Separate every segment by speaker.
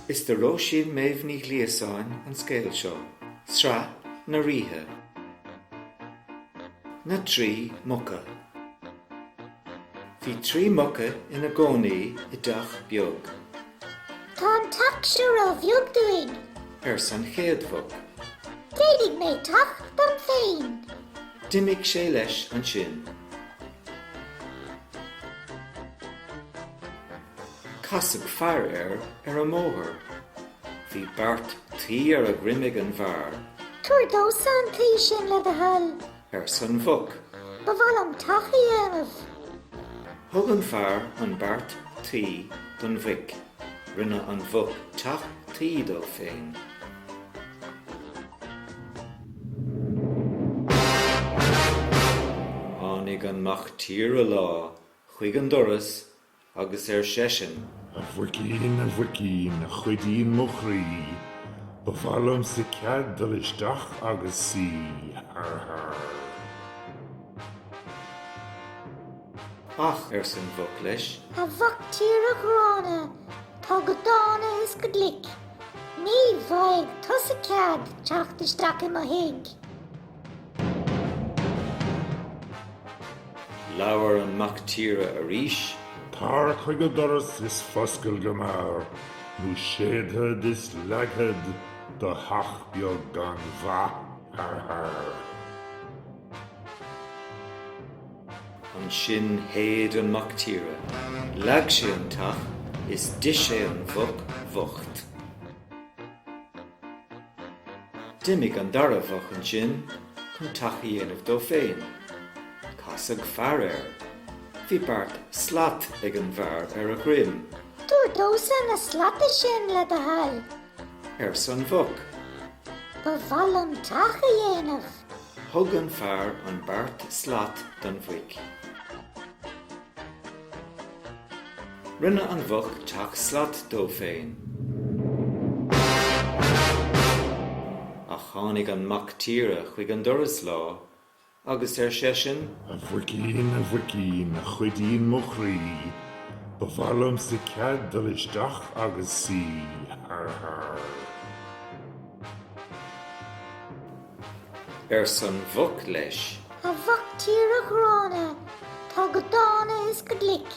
Speaker 1: Is do Róisín Méabh Ní Ghliasáin an scéal seo, Sraith na Ríthe. Na trí muca. Bhí trí muca ina gcónaí i dteach beag. Tá an teach seo ró-bheag dúinn. arsa an chéad mhuc. Déanfaidh mé teach dom féin. D'imigh sé leis ansin. Casadh fear air ar an mbóthar. Bhí beart tuí ar a dhroim ag an bhfear. Tabhair domhsa an tuí sin le do thoil. arsa an mhuc. Ba mhaith liom teach a dhéanamh. Thug an fear an beart tuí don mhuic. Rinne an mhuc teach tuí dó féin. Tháinig an mac tíre lá chuig an doras Agus ar seisean. A mhuicín, a mhuicín, a chuidín mo chroí, ba mhaith liomsa cead dul isteach agus suí. Har, har. Ach, arsa an mhuc leis. A mhac tíre ghránna, tá go dána is go glic, ní bhfaighidh tusa cead teacht isteach i mo thigh. Labhair an mac tíre arís. Tar chuig an doras is foscail go mear nó séidfead is leagfad do theach beag gan mhaith har har. Ansin shéid an mac tíre. Leag sé an teach is d'ith sé an mhuc bhocht. D'imigh an dara mhuc ansin chun teach a dhéanamh dó féin. Casadh fear air. Bhí beart slat ag an bhfear ar a dhroim. Tabhair domhsa na slata sin, le do thoil. arsa an mhuc. Ba mhaith liom teach a dhéanamh. Thug an fear an beart slat don mhuic. Rinne an mhuc teach slat dó féin. Ach tháinig an mac tíre chuig an doras lá agus ar seisean. A mhuicín, a mhuicín, a chuidín mo chroí, ba mhaith liomsa cead dul isteach agus suí. Har, har. arsa an mhuc leis. A mhac tíre ghránna, tá go dána is go glic,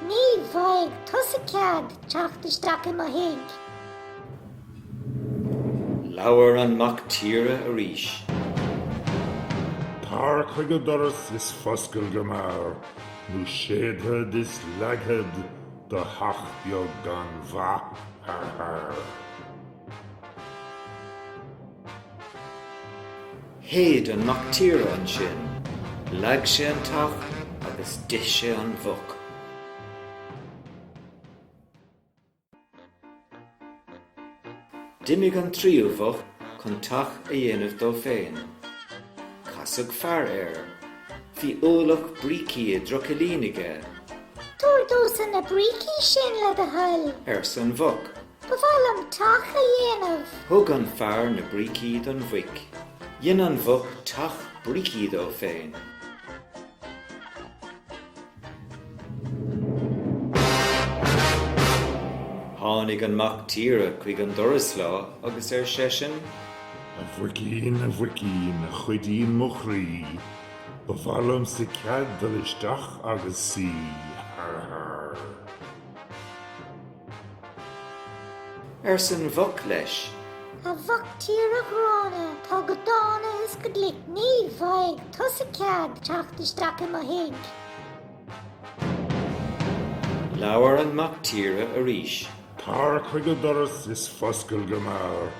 Speaker 1: ní bhfaighidh tusa cead teacht isteach i mo thigh. Labhair an mac tíre arís. Tar chuig an doras is foscail go mear, nó séidfead is leagfad do theach beag gan mhaith har har. Shéid an mactíre ansin, leag sé an teach agus d'ith sé an mhuc. D'imigh an tríú mhuc chun teach a dhéanamh dó féin. Casadh fear air. Bhí ualach brící i dtrucailín aige. Tabhair domhsa na brící sin, le do thoil. arsa an mhuc. Ba mhaith liom teach a dhéanamh. Thug an fear na brící don mhuic. Dhein an mhuc teach brící dó féin. Tháinig an mac tíre chuig an doras lá agus ar seisean. A mhuicín, a mhuicín, a chuidín mo chroí, ba mhaith liomsa cead dul isteach agus suí. Har, har. arsa an mhuc leis. A mhac tíre ghránna, tá go dána is go glic, ní bhfaighidh tusa cead teacht isteach i mo thigh. Labhair an mac tíre arís. Tar chuig an doras is foscail go mear,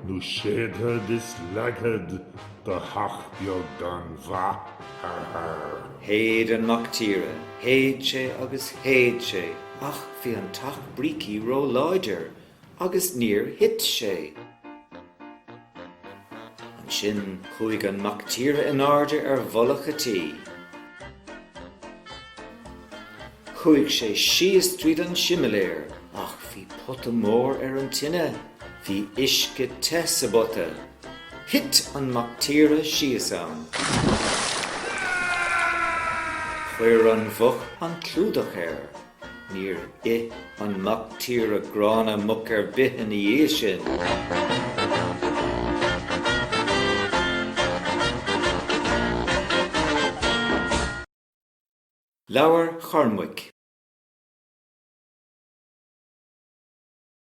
Speaker 1: nó séidfead is leagfad do theach beag gan mhaith har har. Shéid an Mac Tíre, shéid sé agus shéid sé ach bhí an teach brící ró-láidir agus níor thit sé. Ansin chuaigh an Mac Tíre in airde ar mhullach an tí. Chuaigh sé síos tríd an similéar ach bhí pota mór ar an tine, bhí uisce te sa bpota. Thit an mac tíre síos ann. Chuir an mhuc an clúdach air. Níor ith an mac tíre gránna muc ar bith ina dhiaidh sin. Leabhar Chormaic.